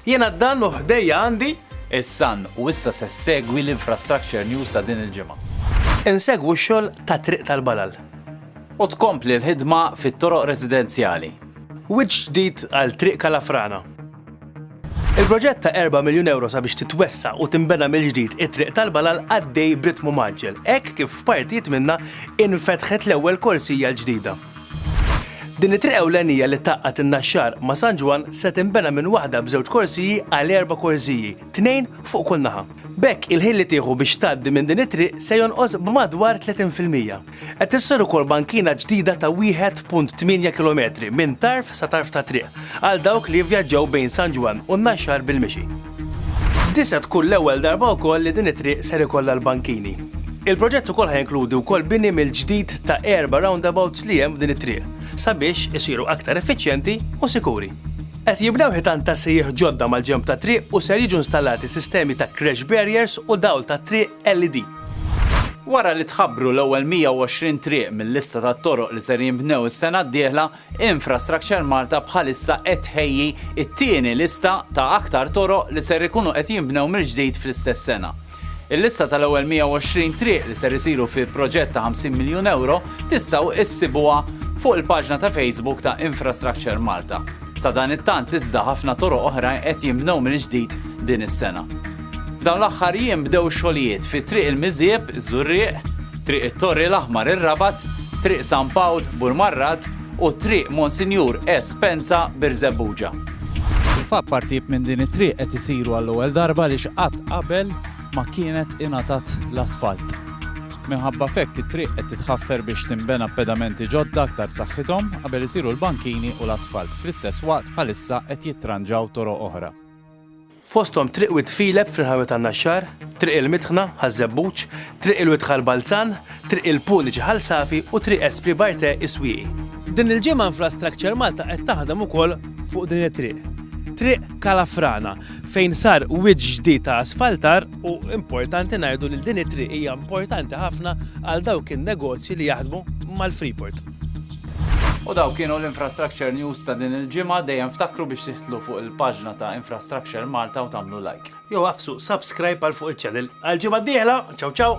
Jiena d-dan u ħdejja għandi is-san u issa se segwi l-infrastructure news ta' din il-ġimgħa. Insegwu x-xogħol ta' Triq tal-Balal. U tkompli l-ħidma fit-toroq residenzjali. Wiċċ ġdid għal Triq Kalafrana. Il-proġett ta' 4 miljun euro sabiex titwessa u tinbena mill-ġdid it-Triq tal-Balal għaddej b'ritmu mgħaġġel, hekk kif f'partijiet minnha infetħet l-ewwel korsija l-ġdida. Din it-triq ewlenija li tgħaqqad in-Naxxar ma' San Ġwann se tinbena minn waħda b'żewġ korsiji għal erba' korsiji, tnejn fuq kull naħa. B'hekk il-ħin li tieħu biex tgħaddi minn din it-triq se jonqos b'madwar 30 fil-mija. Qed issir ukoll bankina ġdida ta' 1.8 kilometri minn tarf sa tarf tat-triq għal dawk li jivvjaġġaw bejn San Ġwann u n-Naxxar bil-mixi. Di se tkun l-ewwel darba wkoll li din it-triq ser ikollha l-bankini. Il-proġett ukoll ħa jinkludi wkoll bini mill-ġdid ta' erba' roundabouts li hemm f'din it-triq, sabiex isiru aktar effiċjenti u sikuri. Qed jibnew ħitan ta' sejjieħ ġodda mal-ġenb tat-triq u ser jiġu nstallati sistemi ta' crash barriers u dawl tat-triq LED. Wara li tħabbru l-ewwel 120 triq mil-lista tat-toroq li ser jinbnew is-sena d-dieħla, Infrastructure Malta bħalissa qed tħejji t-tieni lista ta' aktar toroq li ser ikunu qed jinbnew mill-ġdid fl-istess sena. Il-lista tal-ewwel 120 triq li ser isiru fi proġett ta' 50 miljun ewro tistgħu issibuha fuq il-paġna ta' Facebook ta' Infrastructure Malta. Sadanittant iżda ħafna toroq oħrajn qed jinbnew mill-ġdid din is-sena. F'dawn l-aħħar jiem bdew xogħlijiet fi Triq il-Miżieb, Żurrieq, Triq it-Torri l-Aħmar ir-Rabat, Triq San Pawl, Burmarrad, u Triq Monsinjur E. Spenza, Birżebbuġa. Fil-fatt partijiet minn din it-triq qed isiru għall-ewwel darba għaliex qatt qabel ma kienet ingħatat l-asfalt. Minħabba f'hekk it-triq qed titħaffer biex tinbena b'pedamenti ġodda aktar b'saħħithom qabel isiru l-bankini u l-asfalt. Fl-istess waqt bħalissa qed jittranġaw toroq oħra. fosthom Triq Wied Filep fil-Ħanut għan-Naxxar, Triq il-Midħna, Ħaż-Żebbuġ, Triq il-Wied Ħal Balzan, Triq il-Puniċi Ħal Safi u Triq Espri Barte Is-Swieqi. Din il-ġimgħa Infrastructure Malta qed taħdem ukoll fuq din it-triq, Triq Kalafrana, fejn sar wied ġdid ta' asfaltar u importanti ngħidu li din it-triq hija importanti ħafna għal dawk in-negozji li jaħdmu mal-Freeport. U dawk kienu l-Infrastructure News ta' din il-ġimgħa, dejjem ftakru biex tidħlu fuq il-paġna ta' Infrastructure Malta u tagħmlu like. Jew agħfsu subscribe għal fuq iċ-channel. Għall-ġimgħa d-dieħla, ciao ciao!